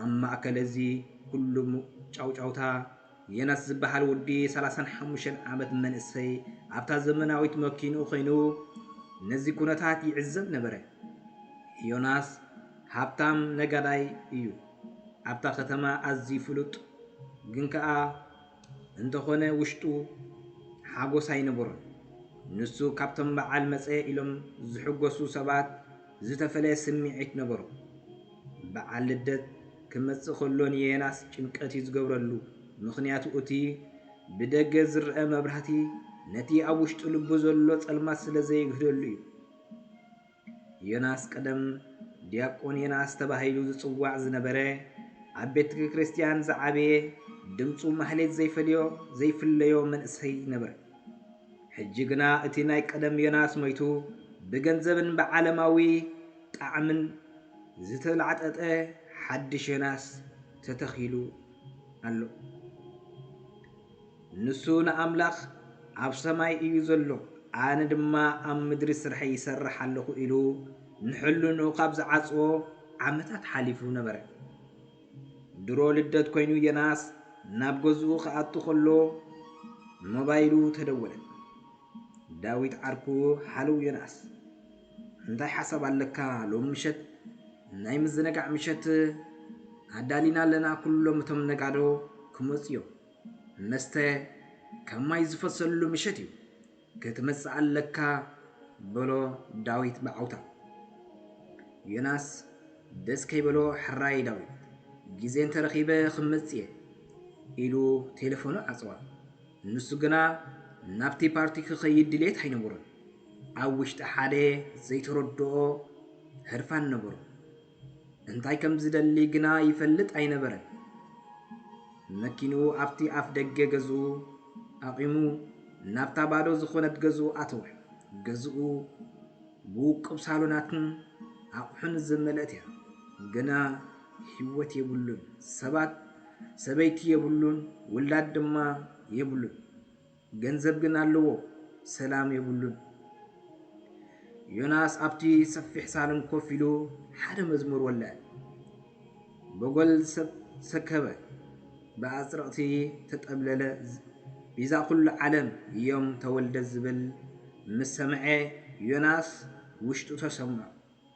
ኣብ ማእከል እዚ ኩሉ ጫውጫውታ፣ ዬናስ ዝበሃል ውዲ ሰላሳን ሓሙሽተን ዓመት መንእሰይ ኣብታ ዘመናዊት መኪንኡ ኮይኑ ነዚ ኩነታት ይዕዘብ ነበረ። ዮናስ ሃብታም ነጋዳይ እዩ። ኣብታ ከተማ ኣዝዩ ፍሉጥ ግን ከኣ እንተኾነ ውሽጡ ሓጎስ ኣይነበሮን። ንሱ ካብቶም በዓል መጸ ኢሎም ዝሕጎሱ ሰባት፣ ዝተፈለየ ስምዒት ነበሮ። በዓል ልደት ክመጽእ ከሎ ንየናስ ጭንቀት እዩ ዝገብረሉ፣ ምኽንያቱ እቲ ብደገ ዝረኣ መብራህቲ ነቲ ኣብ ውሽጢ ልቡ ዘሎ ጸልማት ስለ ዘየግህደሉ እዩ። ዮናስ ቀደም ዲያቆን ዮናስ ተባሂሉ ዝጽዋዕ ዝነበረ ኣብ ቤተ ክርስቲያን ዝዓበየ ድምፁ ማህሌት ዘይፈለዮ ዘይፍለዮ መንእሰይ ነበረ። ሕጂ ግና እቲ ናይ ቀደም ዮናስ ሞይቱ ብገንዘብን ብዓለማዊ ጣዕምን ዝተላዕጠጠ ሓድሽ ዮናስ ተተኺሉ ኣሎ። ንሱ ንኣምላኽ ኣብ ሰማይ እዩ ዘሎ፣ ኣነ ድማ ኣብ ምድሪ ስርሐይ ይሰርሕ ኣለኹ ኢሉ ንሕልንኡ ካብ ዝዓጽዎ ዓመታት ሓሊፉ ነበረ። ድሮ ልደት ኮይኑ ዮናስ ናብ ገዝኡ ክኣቱ ከሎ ሞባይሉ ተደወለት። ዳዊት ዓርኩ ሃለው ዮናስ እንታይ ሓሳብ ኣለካ ሎሚ ምሸት ናይ ምዝንጋዕ ምሸት ኣዳሊና ኣለና ኩሎም እቶም ነጋዶ ክመፁ እዮም መስተ ከም ማይ ዝፈሰሉ ምሸት እዩ ክትመጽእ ኣለካ በሎ ዳዊት ብዓውታ። ዮናስ ደስ ከይበሎ ሕራይ ዳዊት ግዜ እንተ ረኺበ ክመጽእ'የ ኢሉ ቴለፎኑ ዓጸወ። ንሱ ግና ናብቲ ፓርቲ ክኸይድ ድሌት ኣይነበሮን። ኣብ ውሽጢ ሓደ ዘይተረድኦ ህርፋን ነበሮ። እንታይ ከም ዝደሊ ግና ይፈልጥ ኣይነበረን። መኪንኡ ኣብቲ ኣፍ ደገ ገዝኡ ኣቚሙ ናብታ ባዶ ዝኾነት ገዝኡ ኣተወ። ገዝኡ ብውቁብ ሳሎናትን ኣቑሑን ዝመልእት እያ። ግና ህይወት የብሉን፣ ሰባት ሰበይቲ የብሉን፣ ውላድ ድማ የብሉን። ገንዘብ ግን ኣለዎ ሰላም የብሉን። ዮናስ ኣብቲ ሰፊሕ ሳሎን ኮፍ ኢሉ ሓደ መዝሙር ወልዐ። በጎል ሰከበ፣ ብኣጽርቕቲ ተጠብለለ፣ ቤዛ ኩሉ ዓለም እዮም ተወልደ ዝብል ምስ ሰምዐ ዮናስ ውሽጡ ተሰምዖ።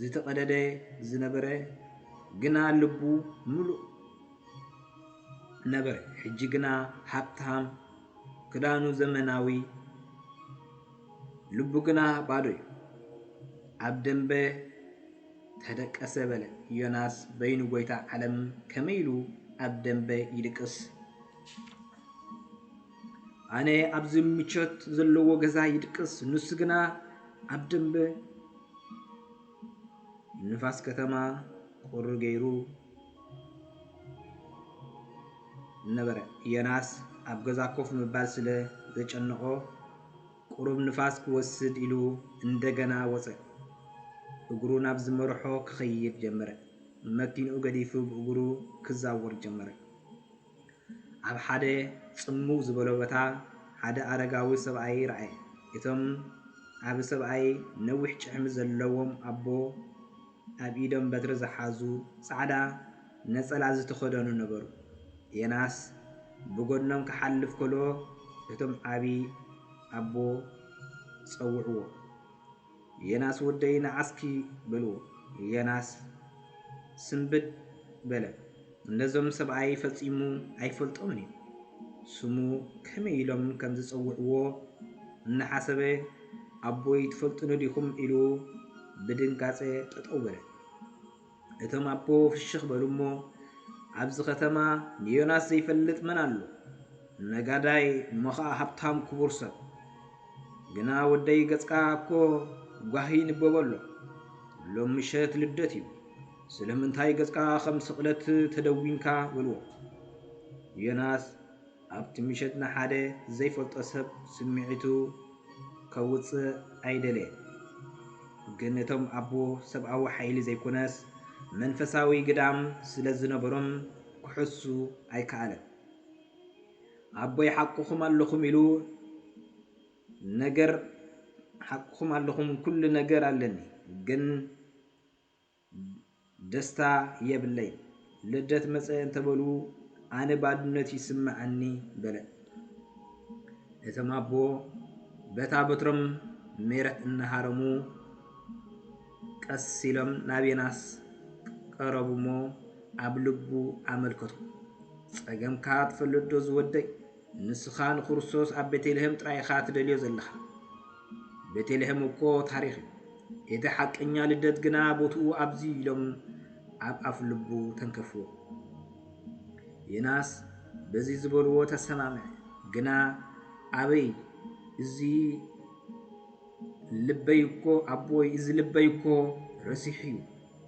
ዝተቐደደ ዝነበረ ግና ልቡ ምሉእ ነበረ። ሕጂ ግና ሃብታም፣ ክዳኑ ዘመናዊ፣ ልቡ ግና ባዶ እዩ። ኣብ ደምበ ተደቀሰ በለ ዮናስ በይኑ ጎይታ ዓለም ከመይ ኢሉ ኣብ ደምበ ይድቅስ? ኣነ ኣብዚ ምቾት ዘለዎ ገዛ ይድቅስ፣ ንሱ ግና ኣብ ደምበ ንፋስ ከተማ ቁሪ ገይሩ ነበረ። ዮናስ ኣብ ገዛ ኮፍ ምባል ስለ ዘጨነቖ ቁሩብ ንፋስ ክወስድ ኢሉ እንደገና ወጸ። እግሩ ናብ ዝመርሖ ክኸይድ ጀመረ። መኪንኡ ገዲፉ ብእግሩ ክዛወር ጀመረ። ኣብ ሓደ ጽምው ዝበሎ ቦታ ሓደ ኣረጋዊ ሰብኣይ ረኣየ። እቶም ዓቢ ሰብኣይ ነዊሕ ጭሕሚ ዘለዎም ኣቦ፣ ኣብ ኢዶም በትሪ ዝሓዙ፣ ጻዕዳ ነጸላ ዝተኸድኑ ነበሩ። ዮናስ ብጐድኖም ክሓልፍ ከሎ እቶም ዓቢ ኣቦ ጸውዕዎ። የናስ ወደይ ንዓስኪ በልዎ። የናስ ስንብድ በለ። ነዞም ሰብኣይ ፈጺሙ ኣይፈልጦምን እዩ። ስሙ ከመይ ኢሎም ከም ዝጸውዕዎ እናሓሰበ ኣቦይ ትፈልጡኒ ዲኹም ኢሉ ብድንጋጸ ጠጠው በለ። እቶም ኣቦ ፍሽኽ በሉ እሞ፣ ኣብዚ ከተማ ንዮናስ ዘይፈልጥ መን ኣሎ? ነጋዳይ እሞ ኸኣ ሃብታም ክቡር ሰብ። ግና ወደይ ገጽካ እኮ ጓሂ ይንበቦ ኣሎ። ሎም ምሸት ልደት እዩ። ስለምንታይ ገጽካ ኸም ስቕለት ተደዊንካ? በልዎ። ዮናስ ኣብቲ ምሸት ንሓደ ዘይፈልጦ ሰብ ስምዒቱ ከውጽእ ኣይደለየን። ግን እቶም ኣቦ ሰብኣዊ ሓይሊ ዘይኮነስ መንፈሳዊ ግዳም ስለ ዝነበሮም ክሕሱ ኣይከኣለን። ኣቦይ ሓቅኹም ኣለኹም ኢሉ ነገር ሓቅኹም ኣለኹም ኩሉ ነገር ኣለኒ ግን ደስታ የብለይ ልደት መጸ እንተበሉ ኣነ ባድነት ይስመዐኒ በለ። እቶም ኣቦ በታ በትሮም ሜረት እናሃረሙ ቀስ ኢሎም ናብ ዮናስ ቀረቡ እሞ ኣብ ልቡ ኣመልከቱ። ጸገምካ ትፈልጥዶ ዝወደይ? ንስኻ ንክርስቶስ ኣብ ቤተልሔም ጥራይ ኢኻ ትደልዮ ዘለኻ። ቤቴልሄም እኮ ታሪኽ እዩ። እቲ ሓቀኛ ልደት ግና ቦትኡ ኣብዚ'ዩ ኢሎም ኣብ ኣፍ ልቡ ተንከፍዎ። ዮናስ በዚ ዝበልዎ ተሰማምዐ። ግና ኣበይ እዚ ልበይ እኮ ኣቦይ እዚ ልበይ እኮ ረሲሑ'ዩ።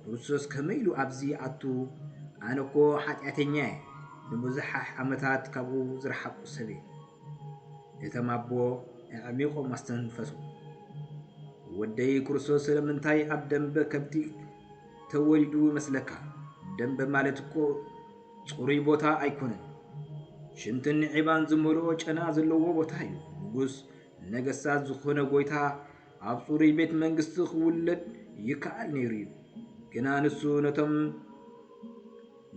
ክርስቶስ ከመይ ኢሉ ኣብዚ ይኣቱ? ኣነ እኮ ሓጢኣተኛ እየ፣ ንብዙሓሕ ዓመታት ካብኡ ዝረሓቕኩ ሰብ እየ። እቶም ኣቦ ኣዕሚቖም ኣስተንፈሱ። ወደይ ክርስቶስ ስለምንታይ ኣብ ደምበ ከብቲ ተወሊዱ ይመስለካ? ደምበ ማለት እኮ ጽሩይ ቦታ ኣይኮነን። ሽንትን ዒባን ዝመልኦ ጨና ዘለዎ ቦታ እዩ። ንጉስ ነገስታት ዝኾነ ጎይታ ኣብ ጽሩይ ቤት መንግስቲ ክውለድ ይከኣል ነይሩ እዩ። ግና ንሱ ነቶም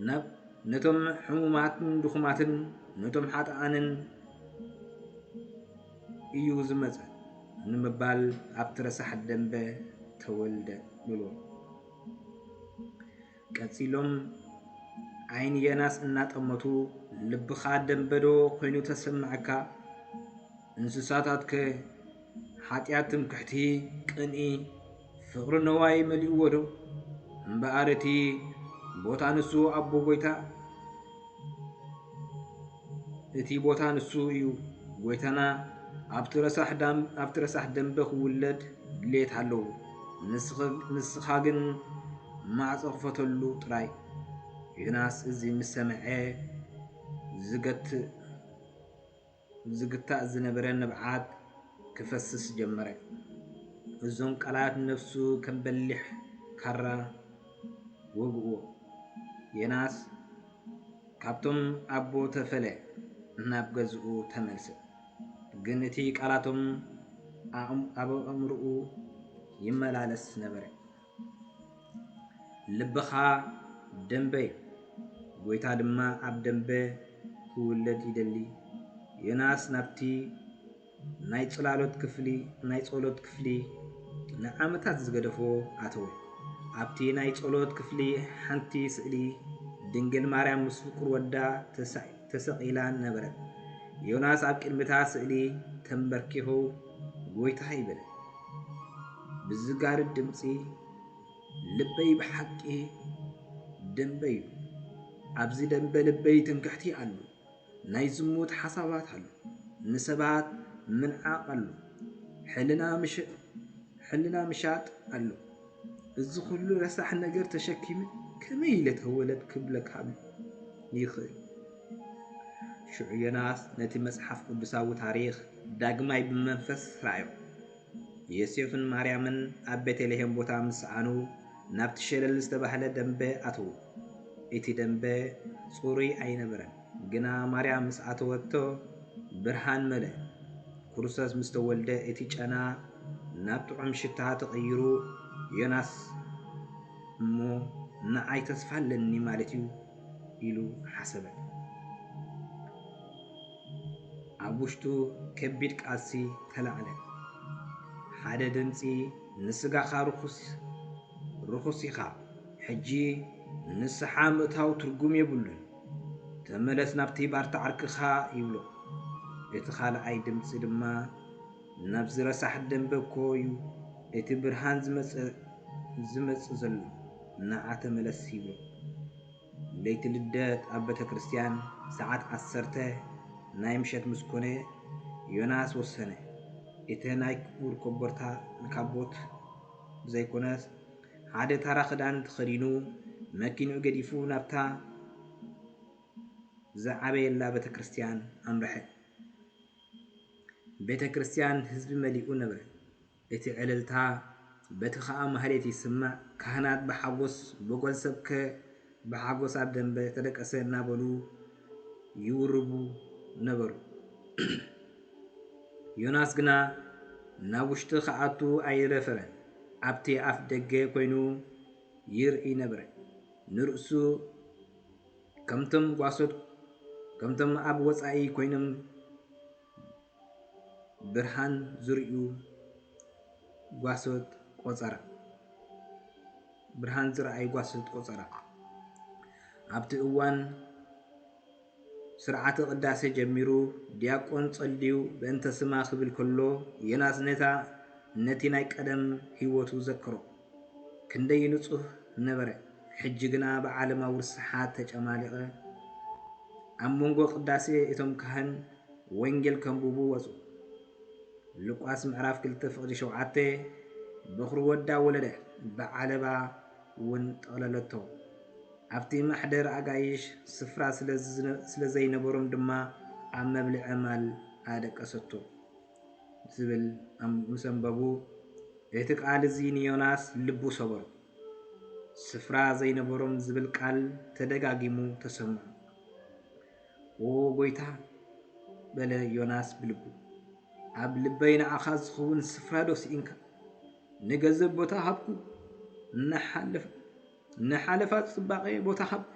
ናብ ነቶም ሕሙማትን ድኹማትን ነቶም ሓጥኣንን እዩ ዝመጸ ንምባል ኣብቲ ረሳሕ ደንበ ተወልደ ብሎ ቀጺሎም ዓይኒ የናስ እናጠመቱ ልብኻ ደምበዶ ኮይኑ ተሰማዕካ? እንስሳታትከ ሓጢኣት ትምክሕቲ ቅንኢ ፍቕሪ ነዋይ መሊኡዎዶ? እምበኣር እቲ ቦታ ንሱ ኣቦ ጐይታ እቲ ቦታ ንሱ እዩ። ጎይታና ኣብቲ ረሳሕ ዳም ኣብቲ ረሳሕ ደምበ ክውለድ ድሌት ኣለዎ። ንስኻ ግን ማዕጾ ክፈተሉ ጥራይ። ዮናስ እዚ ምስ ሰምዐ ዝገትእ ዝግታእ ዝነበረ ንብዓት ክፈስስ ጀመረ። እዞም ቃላት ንነብሱ ከም በሊሕ ካራ ወግእዎ። ዮናስ ካብቶም ኣቦ ተፈለ ናብ ገዝኡ ተመልሰ። ግን እቲ ቃላቶም ኣብ ኣእምሮኡ ይመላለስ ነበረ። ልብኻ ደምበ እዩ፣ ጐይታ ድማ ኣብ ደምበ ኪውለድ ይደሊ። ዮናስ ናብቲ ናይ ጽላሎት ክፍሊ፣ ናይ ጸሎት ክፍሊ ንዓመታት ዝገደፎ ኣተወ። ኣብቲ ናይ ጸሎት ክፍሊ ሓንቲ ስእሊ ድንግል ማርያም ምስ ፍቁር ወዳ ተሰቂላን ነበረት። ዮናስ ኣብ ቅድሚታ ስእሊ ተንበርኪኹ ጐይታ ይብል ብዝጋርድ ድምጺ፣ ልበይ ብሓቂ ደምበ'ዩ፣ ኣብዚ ደምበ ልበይ ትምክሕቲ ኣሉ፣ ናይ ዝሙት ሓሳባት ኣሉ፣ ንሰባት ምንዓቕ ኣሉ፣ ሕልና ምሻጥ ኣሉ። እዚ ኩሉ ረሳሕ ነገር ተሸኪመ ከመይ ኢለ ተወለድ ክብለካ ይኽእል። ሽዑ ዮናስ ነቲ መጽሓፍ ቅዱሳዊ ታሪኽ ዳግማይ ብመንፈስ ረኣዮ። ዮሴፍን ማርያምን ኣብ ቤተልሔም ቦታ ምስ ሰኣኑ ናብቲ ሸለል ዝተባህለ ደምበ ኣተዉ። እቲ ደምበ ጽሩይ ኣይነበረን። ግና ማርያም ምስ ኣተወቶ ብርሃን መልአ። ኩሩሰስ ምስ ተወልደ እቲ ጨና ናብ ጥዑም ሽታ ተቐይሩ ዮናስ እሞ ንዓይ ተስፋ ኣለኒ ማለት እዩ ኢሉ ሓሰበ። ኣብ ውሽጡ ከቢድ ቃልሲ ተላዕለ። ሓደ ድምጺ ንስጋኻ ርኹስ ርኹስ ኢኻ ሕጂ ንስሓ ምእታው ትርጉም የብሉን። ተመለስ ናብቲ ባርታ ዓርክኻ ይብሎ። እቲ ካልኣይ ድምጺ ድማ ናብዚ ረሳሕ ደምበ እኮዩ እቲ ብርሃን ዝመጽእ ዘሎ ንዓ ተመለስ ይብሎ። ለይቲ ልደት ኣብ ቤተክርስትያን ሰዓት ዓሰርተ ናይ ምሸት ምስ ኮነ ዮናስ ወሰነ። እቲ ናይ ክቡር ኮቦርታ ንካቦት ብዘይኮነስ ሓደ ታራ ክዳን ተኸዲኑ መኪንኡ ገዲፉ ናብታ ዝዓበየላ ቤተ ክርስትያን ኣምርሐ። ቤተ ክርስትያን ህዝቢ መሊኡ ነበረ፣ እቲ ዕልልታ በቲ ኸኣ ማህሌት ይስማዕ፣ ካህናት ብሓጎስ ብጎል ሰብከ ብሓጎስ ኣብ ደምበ ተደቀሰ እናበሉ ይውርቡ ነበሩ። ዮናስ ግና ናብ ውሽጢ ክኣቱ ኣይደፈረን። ኣብቲ ኣፍ ደገ ኮይኑ ይርእይ ነበረ። ንርእሱ ከምቶም ጓሶት ከምቶም ኣብ ወጻኢ ኮይኖም ብርሃን ዝርእዩ ጓሶት ቆፀራ ብርሃን ዝረኣዩ ጓሶት ቆፀራ ኣብቲ እዋን ስርዓተ ቅዳሴ ጀሚሩ ዲያቆን ጸልዩ በእንተ ስማ ክብል ከሎ ዮናስ ነታ ነቲ ናይ ቀደም ህይወቱ ዘክሮ ክንደይ ንጹህ ነበረ ሕጂ ግና ብዓለማዊ ርስሓት ተጨማሊቐ ኣብ መንጎ ቅዳሴ እቶም ካህን ወንጌል ከንብቡ ወጹ። ሉቃስ ምዕራፍ ክልተ ፍቕዲ ሸውዓተ በዅሪ ወዳ ወለደ፣ ብዓለባ ውን ጠቕለለቶ። ኣብቲ ማሕደር ኣጋይሽ ስፍራ ስለ ዘይነበሮም ድማ ኣብ መብልዒ ዕማል ኣደቀሰቶ። ዝብል ምስ ኣንበቡ እቲ ቃል እዚ ንዮናስ ልቡ ሰበሮ። ስፍራ ዘይነበሮም ዝብል ቃል ተደጋጊሙ ተሰምዑ። ኦ ጎይታ በለ ዮናስ ብልቡ፣ ኣብ ልበይ ንዓኻ ዝኸውን ስፍራዶ ስኢንካ? ንገዘብ ቦታ ሃብኩ፣ ንሓለፋ ጽባቐ ቦታ ሃብኩ፣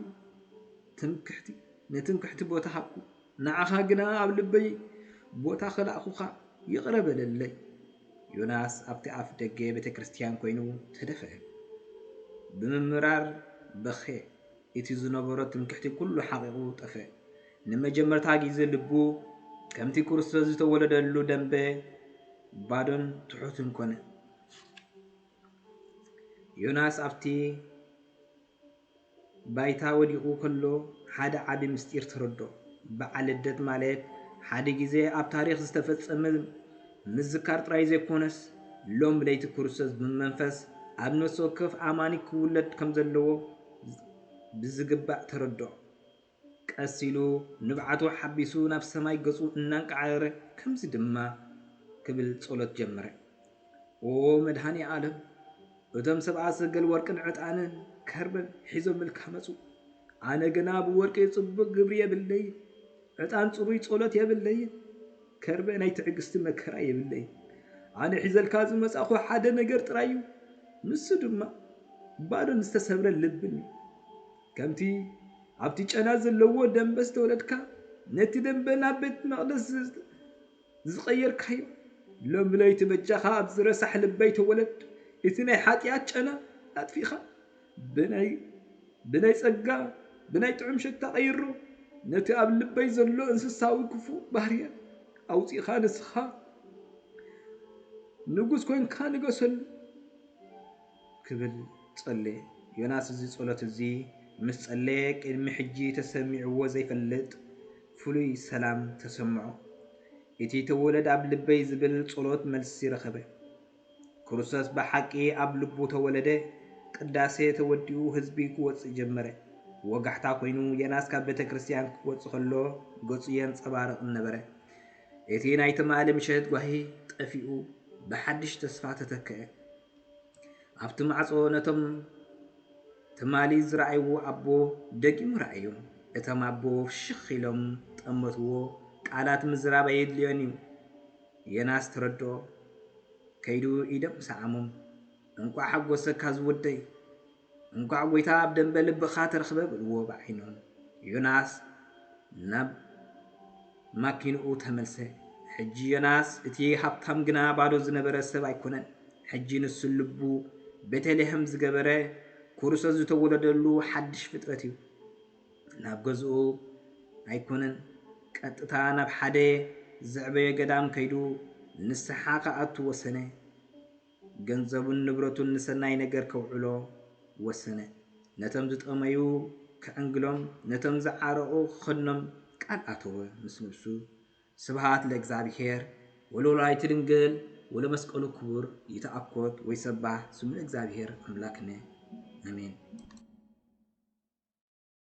ንትምክሕቲ ቦታ ሃብኩ፣ ንዓኻ ግና ኣብ ልበይ ቦታ ኸልኣኹኻ፣ ይቕረ በለለይ። ዮናስ ኣብቲ ኣፍ ደገ ቤተ ክርስትያን ኮይኑ ተደፍአ። ብምምራር በኸየ። እቲ ዝነበሮ ትምክሕቲ ኩሉ ሓቒቑ ጠፈ። ንመጀመርታ ግዜ ልቡ ከምቲ ክርስቶስ ዝተወለደሉ ደምበ ባዶን ትሑትን ኮነ። ዮናስ ኣብቲ ባይታ ወዲቑ ከሎ ሓደ ዓቢ ምስጢር ተረዶ። በዓል ልደት ማለት ሓደ ግዜ ኣብ ታሪኽ ዝተፈጸመ ምዝካር ጥራይ ዘይኮነስ ሎም ለይቲ ክርስቶስ ብመንፈስ ኣብ ነፍሲ ወከፍ ኣማኒ ክውለድ ከም ዘለዎ ብዝግባእ ተረድኦ። ቀስ ኢሉ ንብዓቱ ሓቢሱ ናብ ሰማይ ገጹ እናንቃዓረረ ከምዚ ድማ ክብል ጸሎት ጀመረ። ኦ መድኃኔ ዓለም እቶም ሰብኣ ሰገል ወርቅን ዕጣንን ከርበን ሒዞምልካ መጹ። ኣነ ግና ብወርቂ ጽቡቕ ግብሪ የብለይን። ዕጣን ጽሩይ ጸሎት የብለይን ከርበ ናይ ትዕግስቲ መከራ የብለይን ኣነ ሒዘልካ ዝመጻኹ ሓደ ነገር ጥራይ እዩ ንሱ ድማ ባዶን ዝተሰብረ ልብን እዩ ከምቲ ኣብቲ ጨና ዘለዎ ደንበ ዝተወለድካ ነቲ ደንበ ናብ ቤት መቕደስ ዝቐየርካዮ ሎሚ ለይቲ በጃኻ ኣብዚ ረሳሕ ልበይ ተወለድ እቲ ናይ ሓጥያት ጨና ኣጥፊእኻ ብናይ ብናይ ጸጋ ብናይ ጥዑም ሸታ ቀይሮ ነቲ ኣብ ልበይ ዘሎ እንስሳዊ ክፉእ ባህርያት ኣውጺእኻ ንስኻ ንጉስ ኮንካ ንገሰሉ ክብል ጸለየ። ዮናስ እዚ ጸሎት እዚ ምስ ጸለየ ቅድሚ ሕጂ ተሰሚዕዎ ዘይፈልጥ ፍሉይ ሰላም ተሰምዖ። እቲ ተወለድ ኣብ ልበይ ዝብል ጸሎት መልሲ ረኸበ። ክርስቶስ ብሓቂ ኣብ ልቡ ተወለደ፣ ቅዳሴ ተወዲኡ ህዝቢ ክወጽእ ጀመረ። ወጋሕታ ኮይኑ ዮናስ ካብ ቤተክርስትያን ክወጽእ ከሎ ገጹ የንጸባርቕ ነበረ። እቲ ናይ ትማሊ ምሸት ጓሂ ጠፊኡ ብሓድሽ ተስፋ ተተክኣ። ኣብቲ ማዕጾ ነቶም ትማሊ ዝረኣይዎ ኣቦ ደጊሙ ረኣዮም። እቶም ኣቦ ፍሽኽ ኢሎም ጠመትዎ፣ ቃላት ምዝራብ ኣየድልዮን'ዩ። ዮናስ ተረድኦ። ከይዱ ኢዶም ሰዓሞም። እንቋዕ ሓጎሰካ ዝወደይ! እንኳዕ ጎይታ ኣብ ደምበ ልብኻ ተረኽበ በልዎ ብዓይኖም። ዮናስ ናብ ማኪንኡ ተመልሰ። ሕጂ ዮናስ እቲ ሃብታም ግና ባዶ ዝነበረ ሰብ ኣይኮነን። ሕጂ ንሱ ልቡ ቤተልሔም ዝገበረ ኩሩሶስ ዝተወለደሉ ሓድሽ ፍጥረት እዩ። ናብ ገዝኡ ኣይኮነን ቀጥታ ናብ ሓደ ዘዕበዮ ገዳም ከይዱ ንስሓ ክኣቱ ወሰነ። ገንዘቡን ንብረቱን ንሰናይ ነገር ከውዕሎ ወሰነ። ነቶም ዝጠመዩ ክዕንግሎም፣ ነቶም ዝዓረቑ ክኸድኖም ቃል ኣተወ ምስ ነብሱ። ስብሃት ለእግዝኣብሄር ወለወላዲቱ ድንግል ወለመስቀሉ ክቡር ይትኣኮት ወይሰባህ ስሙ ለእግዝኣብሄር ኣምላክነ ኣሜን።